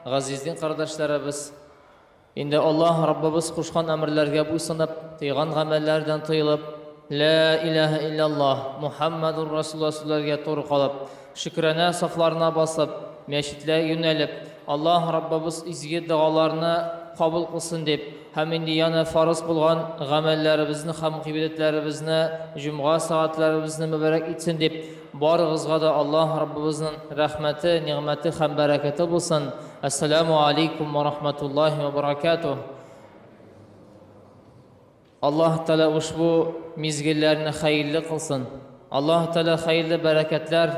Газиз дин кардәшләребез, инде Аллаһ Раббыбыз кушкан әмерләргә буйсынып, тыйган гамәлләрдән тыелып, Лә иләһә илляллаһ, Мухаммадур Расулла сүзләргә туры калып, шөкранә сафларына басып, мәчетләр юнәлеп, Аллаһ Раббыбыз изге догаларны кабул кылсын дип һәм инде яна фарыз булган гамәлләребезне һәм гыйбадәтләребезне, җомга сәгатьләребезне мөбарәк итсен дип, Барыгызга да Аллаһ Раббыбызның рәхмәте, нигъмәте һәм бәрәкәте булсын. Әссәламү алейкум ва рахматуллаһи ва баракатуһ. Аллаһ Тәгалә ушбу мизгелләрне хәерле кылсын. Аллаһ Тәгалә хәерле бәрәкәтләр,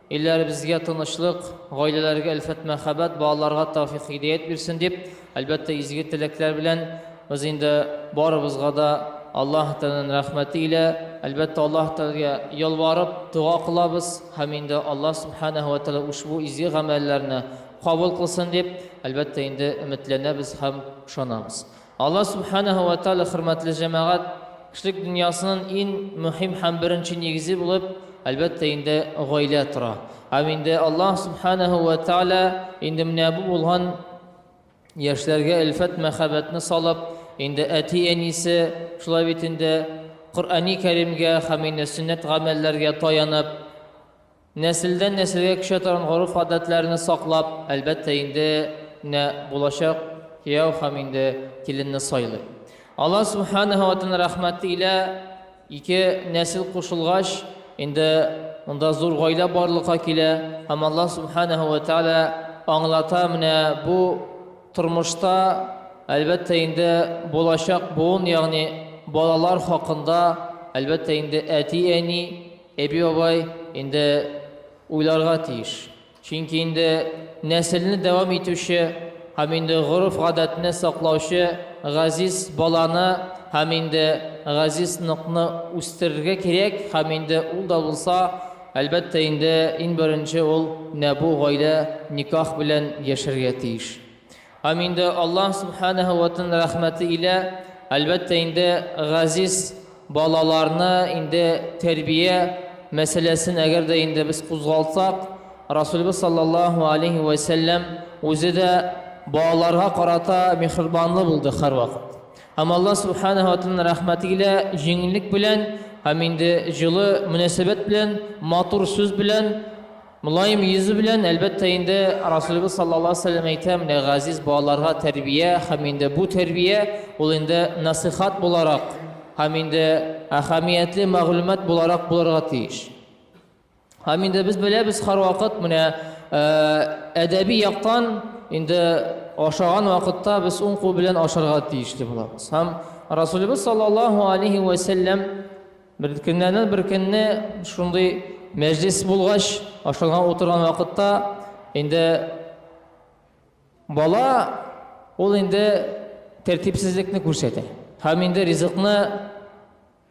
илләребезгә тынычлык, гаиләләргә әлфәт мәхәббәт, балаларга тәүфик хидәят бирсен дип Әлбәттә, изге теләкләр белән без инде барыбызга да Аллаһ Тәгаләнең рәхмәте илә, әлбәттә, Аллаһ Тәгаләгә ялварып, дога кылабыз һәм инде Аллаһ Сүбхәнәһү вә Тәгалә ушбу изге гамәлләрне кабул кылсын дип, әлбәттә, инде өметләнәбез һәм ышанабыз. Аллаһ Сүбхәнәһү вә Тәгалә, хөрмәтле җәмәгать, кешелек дөньясының иң мөһим һәм беренче нигезе булып, әлбәттә, инде гаилә тора. Һәм инде Аллаһ Сүбхәнәһү вә Тәгалә инде менә бу булган, Яшьләргә элфәт мәхәббәтне салып, инде әти-әнисе, шулай бит инде, Коръәни Кәримгә һәм инде сөннәт гамәлләргә таянып, нәселдән нәселгә күчә торган гореф-гадәтләрне саклап, әлбәттә инде, менә булачак кияү һәм инде киленне сайлый. Аллаһ Сүбхәнәһү вә Тәгалә рәхмәте илә, Ике нәсел кушылгач, инде монда зур гаилә барлыкка килә һәм Аллаһ Субханаһу ва Тәгалә аңлата менә бу тормышта, әлбәттә инде булачак буын, ягъни балалар хакында, әлбәттә инде әти-әни, әби-бабай инде уйларга тиеш. Чөнки инде нәселне дәвам итүче һәм инде гореф-гадәтне саклаучы газиз баланы һәм инде газиз ныкны үстерергә кирәк һәм инде ул да булса, әлбәттә инде, иң беренче ул нәбу гаилә никах белән яшәргә тиеш. Һәм инде Аллаһ Сүбхәнәһү вә Тәгаләнең рәхмәте илә, әлбәттә инде, газиз балаларны инде тәрбия мәсьәләсен әгәр дә инде без кузгалтсак, Расулебез салләллаһу алейһи вә сәлләм үзе дә балаларга карата миһербанлы булды һәрвакыт. Һәм Аллаһ Сүбхәнәһү вә Тәгаләнең рәхмәте илә, җиңеллек белән һәм инде җылы мөнәсәбәт белән, матур сүз белән, Мөлаем йөзе белән, Әлбәттә инде, Расулебез саллаллаһу алейһи ва сәлләм әйтә, менә газиз балаларга тәрбия һәм инде бу тәрбия, ул инде насыйхат буларак һәм инде әһәмиятле мәгълүмат буларак булырга тиеш. Һәм инде без беләбез һәрвакыт менә әдәби яктан инде ашаган вакытта без уң кул белән ашарга тиеш дип булабыз. Һәм Расулебез саллаллаһу алейһи ва сәлләм Бер көннәрдән бер көнне шундый мәҗлес булгач, ашарга утырган вакытта инде бала ул инде тәртипсезлекне күрсәтә. Һәм инде ризыкны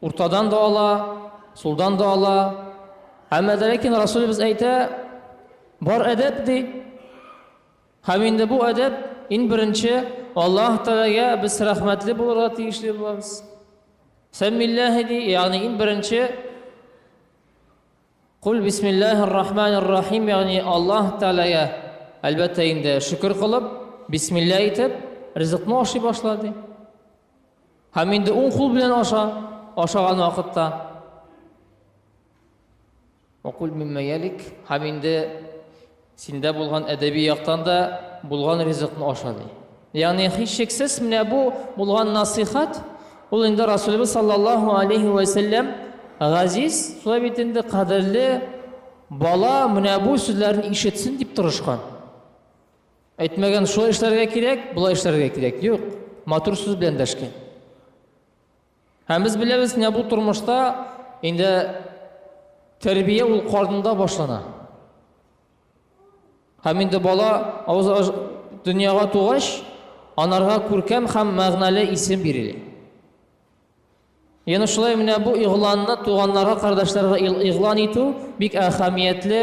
уртадан да ала, сулдан да ала. Әмма дә ләкин Расулыбыз әйтә, бар әдәп ди. Һәм инде бу әдәп, иң беренче, Аллаһ Тәгаләгә без рәхмәтле булырга тиешле булабыз. Сәммилләһи ди, ягъни иң беренче Кул бисмиллахир рахманир рахим, ягъни Аллаһ Тәгаләгә әлбәттә инде шөкер кылып, бисмилла әйтеп, ризыкны ашый башлады. Һәм инде уң кул белән аша, ашаган вакытта Вакуль мимма ялик, һәм инде синдә булган әдәби яктан да булган ризыкны аша ди. Ягъни һичшиксез менә бу булган насыйхат, ул инде Расулыбыз саллаллаһу алейхи ва саллям газиз, шулай бит инде кадерле бала менә бу сүзләрне ишетсен дип тырышкан. Әйтмәгән, шулай эшләргә кирәк, болай эшләргә кирәк. Юк, матур сүз белән дәшкән. Һәм без беләбез, менә бу тормышта инде тәрбия ул карнында башлана. Һәм инде бала авыз дөньяга тугач, анарга күркәм һәм мәгънәле исем бирелә. Яны шулай менә бу игъланны туганнарга, кардашларга игълан итү бик әһәмиятле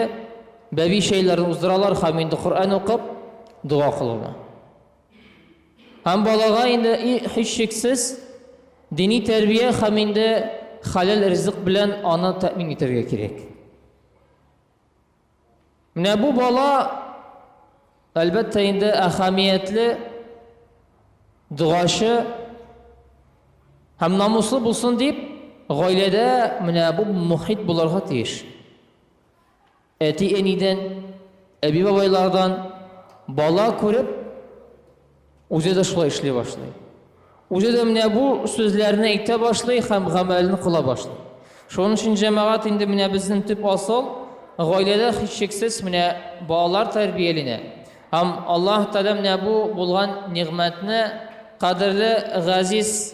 бәби шәйләрен уздыралар һәм инде Коръән укып, дога кылалар. Һәм балага инде һичшиксез дини тәрбия һәм инде хәләл ризык белән аны тәэмин итәргә кирәк. Менә бу бала әлбәттә инде әһәмиятле догачы һәм намуслы булсын дип, гаиләдә менә бу мохит булырга тиеш. Әти-әнидән, әби-бабайлардан бала күреп, үзе дә шулай эшли башлый. Үзе дә менә бу сүзләрне әйтә башлый һәм гамәлен кыла башлый. Шуның өчен җәмәгать инде менә безнең төп асыл гаиләдә һичшиксез менә балалар тәрбияләнә. Һәм Аллаһ Тәгалә менә бу булган нигъмәтне кадерле газиз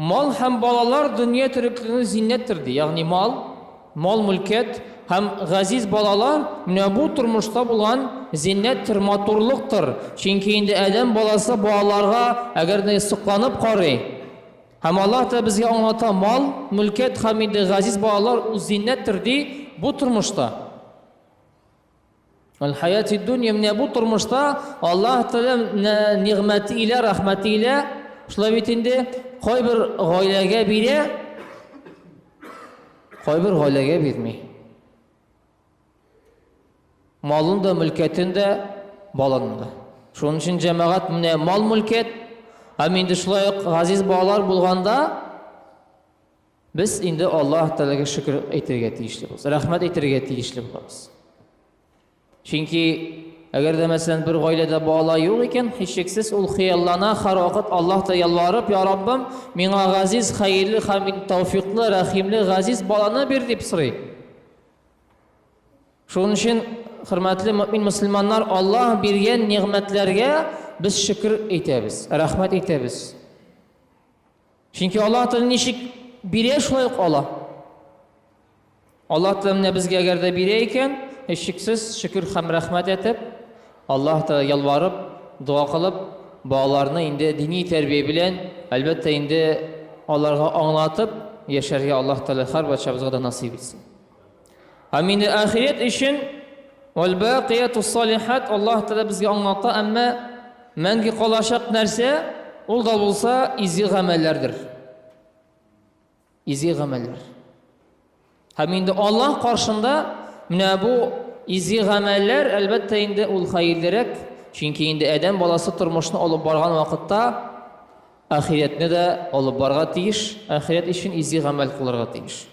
Мал һәм балалар дөнья тереклекнең зиннәттер, ди. Ягъни мал, мал-мөлкәт һәм газиз балалар, менә бу тормышта булган зиннәттер, матурлыктыр. Чөнки инде адәм баласы балаларга әгәр дә сокланып карый, һәм Аллаһ та безгә аңлата, мал, мөлкәт һәм инде газиз балалар ул зиннәттер, ди, бу тормышта. Аль-хаяти дөнья, менә бу тормышта Аллаһ Тәгалә нигъмәте илә, рәхмәте илә, шулай бит инде, кайбер гаиләгә бирә, кайбер гаиләгә бирми. Малын да, мөлкәтен дә, балын да. Шуның өчен җәмәгать менә мал-мөлкәт, һәм инде шулай ук газиз балалар булганда, Без инде Аллаһ Тәгаләгә шөкер әйтергә тиешле булабыз, рәхмәт әйтергә тиешле булабыз. Чөнки әгәр дә мәсәлән бер гаиләдә бала юк икән, һичшиксез ул хыяллана, һәрвакыт Аллаһ та ялварып, "Я Раббым, миңа газиз, хәерле, хәмид, тәүфиклы, рәхимле, газиз баланы бир" дип сорый. Шуның өчен, хөрмәтле мөмин мусламаннар, Аллаһ биргән нигъмәтләргә без шөкер әйтәбез, рәхмәт әйтәбез. Чөнки Аллаһ Тәгалә ничек бирә, шулай ук ала. Аллаһ Тәгалә менә безгә әгәр дә бирә икән, һичшиксез шөкер һәм рәхмәт әйтеп, Аллаһ Тәгалә ялварып, дога кылып, балаларны инде дини тәрбия белән, әлбәттә инде, аларга аңлатып яшәргә Аллаһ Тәгалә һәр барчабызга да насыйп итсен. Һәм инде ахирет өчен Аль-Бакиятус Салихат Аллаһ Тәгалә безгә аңлата, әмма мәңге калачак нәрсә, ул да булса изге гамәлләрдер. Изге гамәлләр. Һәм инде Аллаһ каршында менә бу изге гамәлләр, әлбәттә, инде ул хәерлерәк, чөнки инде адәм баласы тормышны алып барган вакытта ахиретне дә алып барга тиеш, ахирет өчен изге гамәл кылырга тиеш.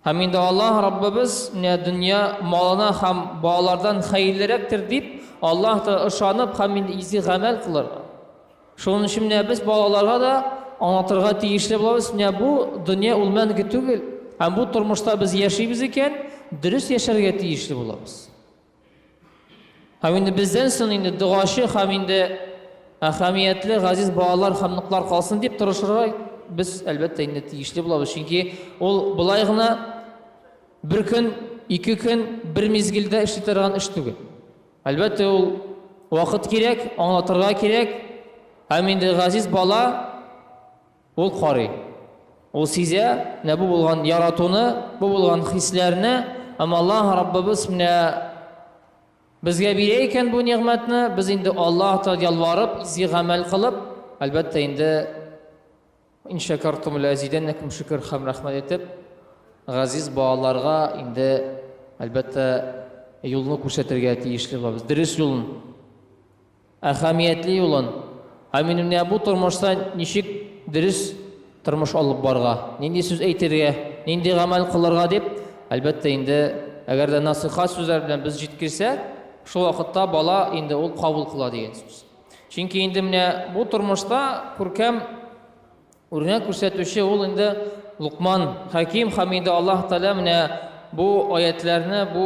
Һәм инде Аллаһ Раббыбыз менә дөнья малына һәм балалардан хәерлерәктер дип, Аллаһ та ышанып һәм инде изге гамәл кылырга. Шуның өчен менә без балаларга да аңлатырга тиешле булабыз, менә бу дөнья ул мәңге түгел, һәм бу тормышта без яшибез икән, дөрес яшәргә тиешле булабыз. Һәм инде бездән соң инде догачы һәм инде әһәмиятле газиз балалар һәм ныклар калсын дип тырышырга без әлбәттә инде тиешле булабыз. Чөнки ул былай гына бер көн, ике көн, бер мизгелдә эшли торган эш түгел. Әлбәттә ул вакыт кирәк, аңлатырга кирәк. Һәм инде газиз бала Ул карый. Ул сизә, менә бу булган яратуны, бу булган хисләрне, әмма Аллаһ Раббыбыз менә безгә бирә икән бу нигъмәтне, без инде Аллаһ Тәгаләгә ялварып, изге гамәл кылып, әлбәттә инде ин шакартум ләзидәннәкум шөкер һәм рәхмәт әйтеп, газиз балаларга инде әлбәттә юлны күрсәтергә тиешле булабыз, дөрес юлны. Әһәмиятле юлын, ә минем менә бу тормышта ничек дөрес тормыш алып барырга, нинди сүз әйтергә, нинди гамәл кылырга дип, әлбәттә инде, әгәр дә насыйхәт сүзләр белән без җиткерсәк, шул вакытта бала инде ул кабул кыла дигән сүз. Чөнки инде менә бу тормышта күркәм үрнәк күрсәтүче ул инде Лукман хәким һәм инде Аллаһ Тәгалә менә бу аятләрне, бу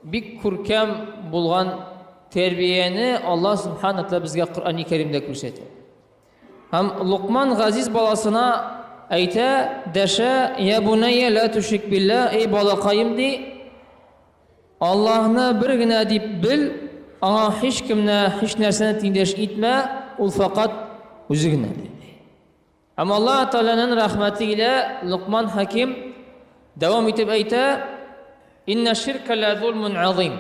Бик күркәм булган тәрбияне Аллаһ Субханә Тәгалә безгә Коръәни Кәримдә күрсәтә. Һәм Лукман газиз баласына әйтә, дәшә, «Я бунәйя ла тушик билла, эй балакаем» ди, Аллаһны бер генә дип бел, аңа һичкемне, һичнәрсәне тиңдәш итмә, ул фәкать үзе генәдер. Һәм Аллаһ Тәгаләнең рәхмәте илә Локман Хәким дәвам итеп әйтә, Инна ширка ла зулмун азим.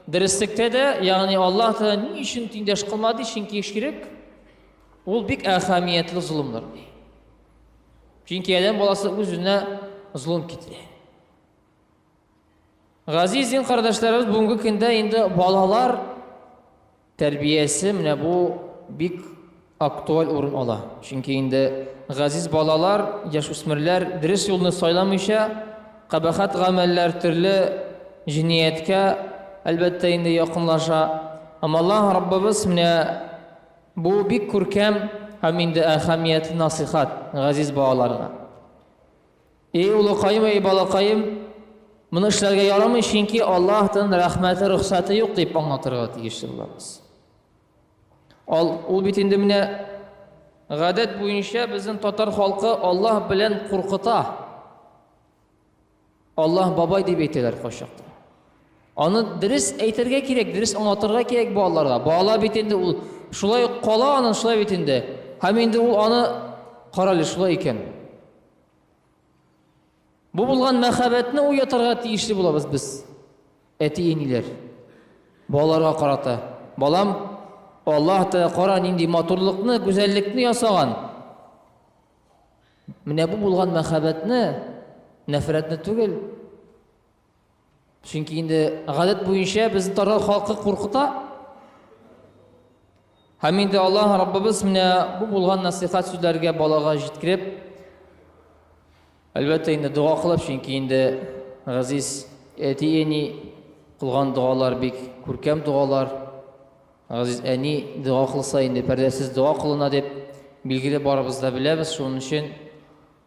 Дөреслекте дә, ягъни Аллаһ Тәгалә ни өчен тиңдәш кылмады, чөнки ширк ул бик әһәмиятле зулымдыр. Чөнки адәм баласы үзенә зулым китерә. Газиз дин кардәшләребез бүгенге көндә инде балалар тәрбиясе менә бу бик актуаль урын ала. Чөнки инде газиз балалар, яшүсмерләр дөрес юлны сайламыйча, кабахат гамәлләр төрле җинияткә әлбәттә инде якынлаша. Һәм Аллаһ Раббыбыз менә бу бик күркәм һәм инде әһәмиятле насыйхат газиз балаларга. Эй улыкаем, эй балакаем, моны эшләргә ярамый, чөнки Аллаһтан рәхмәте, рөхсәте юк дип аңлатырга тиешле булабыз. Ал, ул бит инде менә гадәт буенча безнең татар халкы Аллаһ белән куркыта. Аллаһ бабай дип әйтәләр кайчакта. Аны дөрес әйтергә кирәк, дөрес аңлатырга кирәк балаларга. Бала бит инде ул шулай кала аны шулай бит инде. Һәм инде ул аны карале шулай икән. Бу булган мәхәббәтне уятырга тиешле булабыз без. Әти-эниләр балаларга карата, балам, Аллаһ та кара нинди матурлыкны, гүзәллекне ясаган. Менә бу булган мәхәббәтне, нәфрәтне түгел, Чөнки инде гадәт буенча безне татар халкы куркыта. Һәм инде Аллаһ Раббыбыз менә бу булган насихат сүзләргә балага җиткереп, әлбәттә инде дога кылып, чөнки инде газиз әти-әни кылган догалар бик күркәм догалар. Газиз әни дога кылса инде пәрдәсез дога кылына дип билгеле барыбыз да беләбез. Шуның өчен